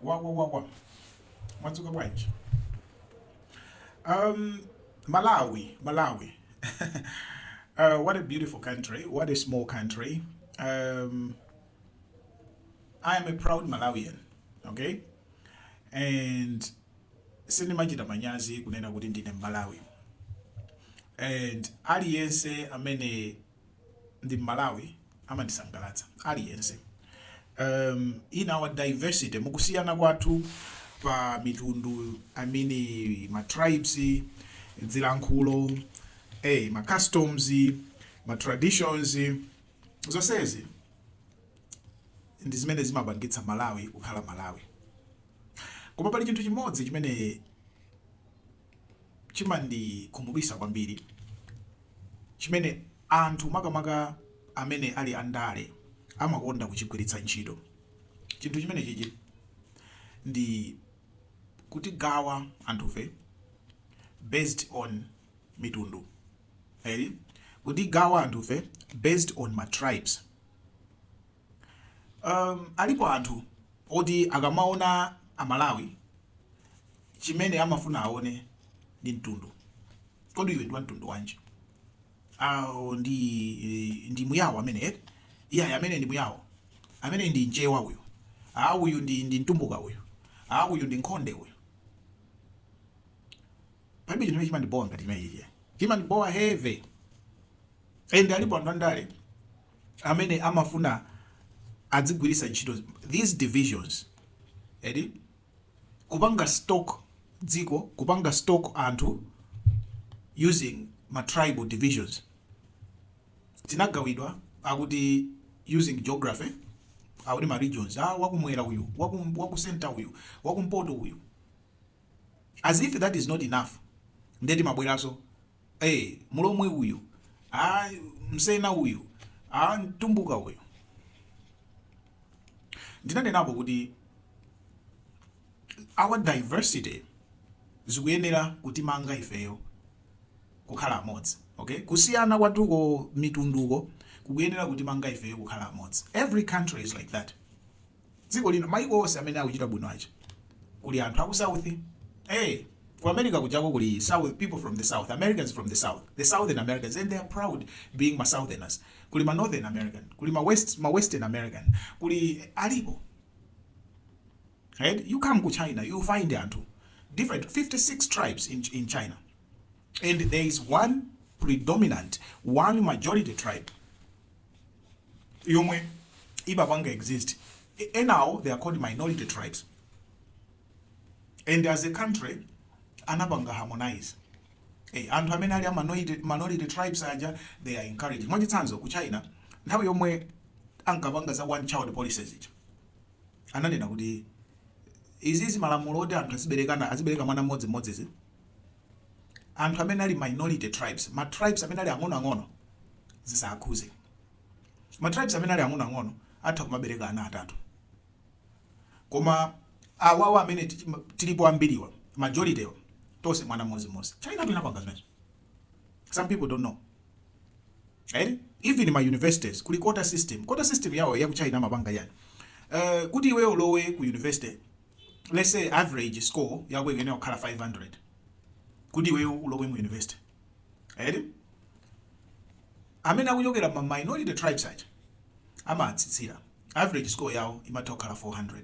Wagwa wagwa. Mwadzuka bwanji? Um, Malawi, Malawi. uh, what a beautiful country. What a small country. Um, I am a proud Malawian, okay? And sindimachita manyazi kunena kuti ndine Mmalawi. And aliyense amene ndi mmalawi amandisangalatsa aliyense um in our diversity mukusiyana kwathu pa mitundu i mean ma tribes dzilankhulo eh ma customs ma traditions zonsezi ndi zimene zimapangitsa malawi kukhala malawi koma pali chinthu chimodzi chimene chimandikhumudwitsa kwambiri chimene anthu makamaka amene ali andale amakonda kuchigwiritsa ntchito chinthu chimenechichi ndi kutigawa anthufe based on mitundu eti kutigawa anthufe based on ma tribes. Um, alipo anthu oti akamaona amalawi chimene amafuna aone ndi mtundu kodi iwe ndi wa mtundu wanji awo ndi ndi muyawo amene eh? iyayi ameneyu ndi muyawo ameneyu ndi mchewa uyu ah uyu ndi ndi mtumbuka uyu ah uyu ndi nkhonde uyu palibe chimene chimandibowa ngati chimenechi chimandibowa heavy and alipo anthu andale amene amafuna adzigwiritsa ntchito these divisions eti kupanga stoke dziko kupanga stoke anthu using ma tribal divisions tinagawidwa akuti using geography akuti ma regions ah wakumwera uyu waku waku center uyu wakumpoto uyu as if that is not enough nde timabweraso ee mulomwe uyu aa msena uyu aa mtumbuka uyu ndinanenapo kuti our diversity zikuyenera kutimanga ifeyo kukhala amodzi okay kusiyana kwathuko mitunduko kukuyenera kutimanga ifeyo kukhala amodzi every country is like that dziko lino maiko onse amene akuchita bwino aja kuli anthu aku south eh ku america kujako kuli south people from the south americans from the south the southern americans and they are proud being ma southerners kuli ma northern american kuli ma west ma western american kuli alipo right you come ku china you find anthu different 56 tribes in, in china and there is one predominant one majority tribe yomwe imapanga exist E- enawo they are called minority tribes and as a country anapanga harmonize Eh, anthu amene ali a minority, minority tribes aja they are encouraged mwachitsanzo ku china nthawi yomwe ankapanga za one child policy ija ananena kuti izizi malamulo oti anthu aziberekana azibereka mwana mmodzi mmodzizi anthu amene ali minority tribes, ma tribes amene ali ang'onoang'ono zisakhuze. Ma tribes amene ali ang'onoang'ono atha kumabereka ana atatu, koma awawa amene tilipo ambiriwa majority yo tose mwana mmozi mmozi. China inapanga zimenezo, some people don't know eh? even ma universities kuli quota system. Quota system yawo ya ku China imapanga chani uh, kuti iwe ulowe ku university let's say average score yako ikuyenera kukhala 500 kuti iweyo ulowe mu university eti amene akuchokera ma minority tribes aja amawatsitsira average score yawo imatha kukhala 400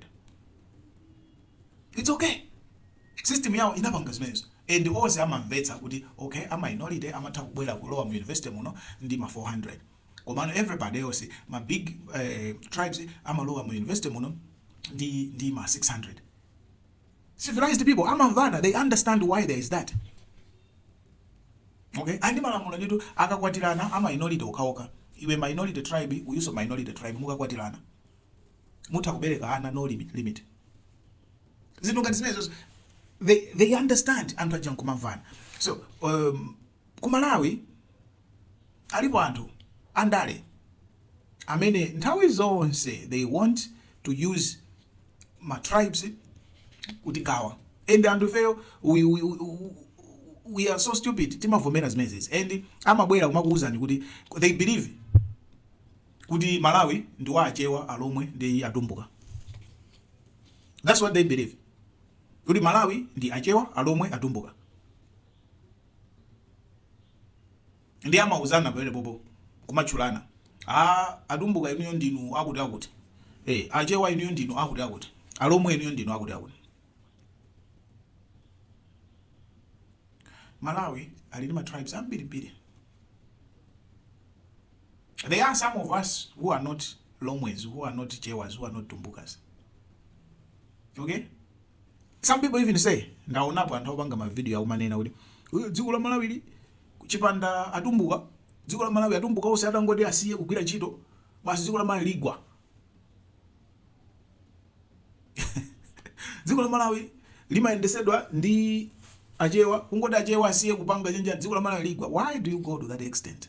it's okay system yawo inapanga zimenezo and onse amamvetsa kuti okay a minority amatha kubwera kulowa mu university muno ndi ma 400 Komano everybody else ma big tribes amalowa mu university muno ndi ndi ma 600 civilized people amamvana they understand why there is that okay and ndi malamulo nditu akakwatirana ama minority okaoka iwe minority tribe uyuso minority tribe mukakwatirana mutha kubereka ana no limit limit zinthu ngati zimenezo they, they understand anthu aja nkumamvana so um, ku malawi Alipo anthu andale amene nthawi zonse they want to use ma tribes kutigawa and anthu ifeyo we, we, we are so stupid timavomera zimenezi and amabwera kumakuuzani kuti they believe kuti Malawi ndi wa achewa alomwe ndi atumbuka that's what they believe kuti Malawi ndi achewa alomwe atumbuka nde amauzana pompo pompo kumatchulana a atumbuka inuyo ndinu akuti akuti eh achewa inuyo ndinu akuti akuti alomwe inuyo ndinu akuti akuti malawi ali ndi ma tribes ambirimbiri there are some of us who are not lomwes who are not chewas who are not tumbukas okay some people even say ndaonapo anthu opanga mavidiyo akumanena kuti dziko la malawi kuchipanda atumbuka dziko la malawi atumbuka onse atangoti asiye kugwira ntchito basi dziko la malawi ligwa dziko la malawi limayendesedwa ndi achewa atangoti achewa asiye kupanga chenjani dziko la malawi ligwa why do you go to that extent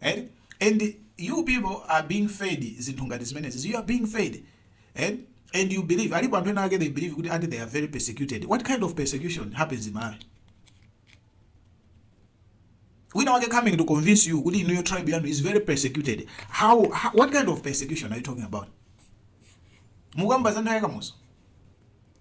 eti and you people are being fed zinthu ngati zimenezi you are being fed eti and you believe alipo anthu ena ake they believe kuti ati they are very persecuted what kind of persecution happens in malawi wina wake coming to convince you kuti inuyo tribe yanu is very persecuted how, how what kind of persecution are you talking about mukamba za nthawi ya Kamuzu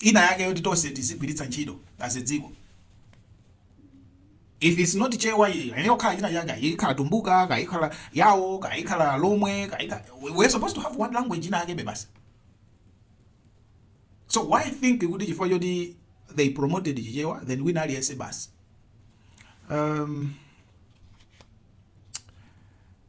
ina yake yoti tonse tizigwiritsa ntchito as a dziko if it's not chewa inayokhala ina yake ayi ikhala tumbuka kaya ikhala yawo kaya ikhala lomwe kaya ikhala we- we're supposed to have one language ina yake bebasi so why think kuti chifukwa choti they promoted chichewa then wina aliyense basi um,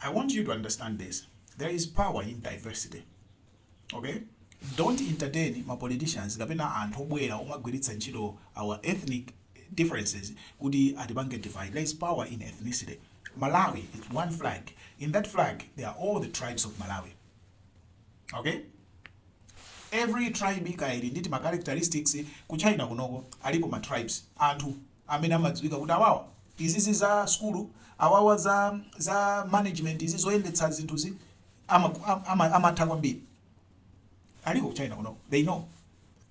I want you to understand this there is power in diversity okay don't entertain ma politicians kapena anthu obwera omagwiritsa ntchito our ethnic differences kuti atipange divide there is power in ethnicity malawi is one flag in that flag there are all the tribes of malawi okay every tribe ili nditi ma characteristics ku china kunoko alipo ma tribes anthu amene amadziwika kuti awawa izizi za sukulu awawa za za management izi zoyendetsa zinthuzi amatha kwambiri alipo china kuno they know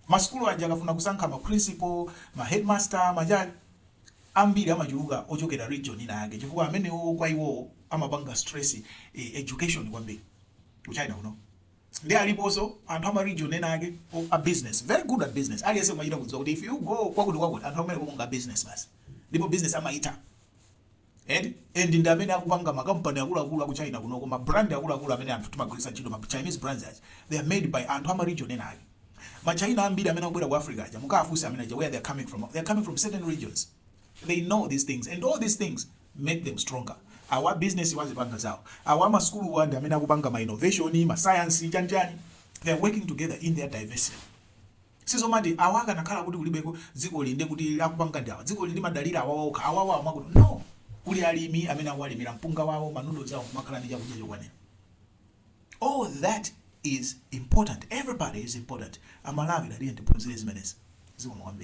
masukulu aja akafuna kusankha ma principal ma headmaster majali ambiri amachuluka ochokera region ina yake chifukwa amenewo kwa iwowo amapanga stress eh, education kwambiri ku china kuno Ndiye aliponso anthu a ma region ena ake a business, very good at business. Aliyense amachita kudziwa kuti if you go kwakuti kwakuti, anthu akumeneko ndi a business basi. Ndipo business amaitha. Eti? And ndi amene akupanga ma company akuluakulu a ku China kunoko, ma brand akuluakulu amene anthu timagwiritsa ntchito, ma Chinese brands aja, they are made by anthu a ma region ena ake. Ma China ambiri amene akubwera ku Africa aja, mukawafunse amene aja where they are coming from, they are coming from certain regions. They know these things and all these things make them stronger awa a businesswa azipanga zawo awa a masukuluwa ndi amene akupanga ma innovation ma science chani chani they are working together in their diversity sizomati awa akanakhala kuti kulibeko dziko linde kuti akupanga ndi awa dziko limadalira awa okha awa awa akuti no kuli alimi amene akuwalimira mpunga wawo ma noodles awo kumakhala ndi chakudya chokwanira all that is important everybody is important amalawi tatiye tiphunzire zimenezi zikomo kwambiri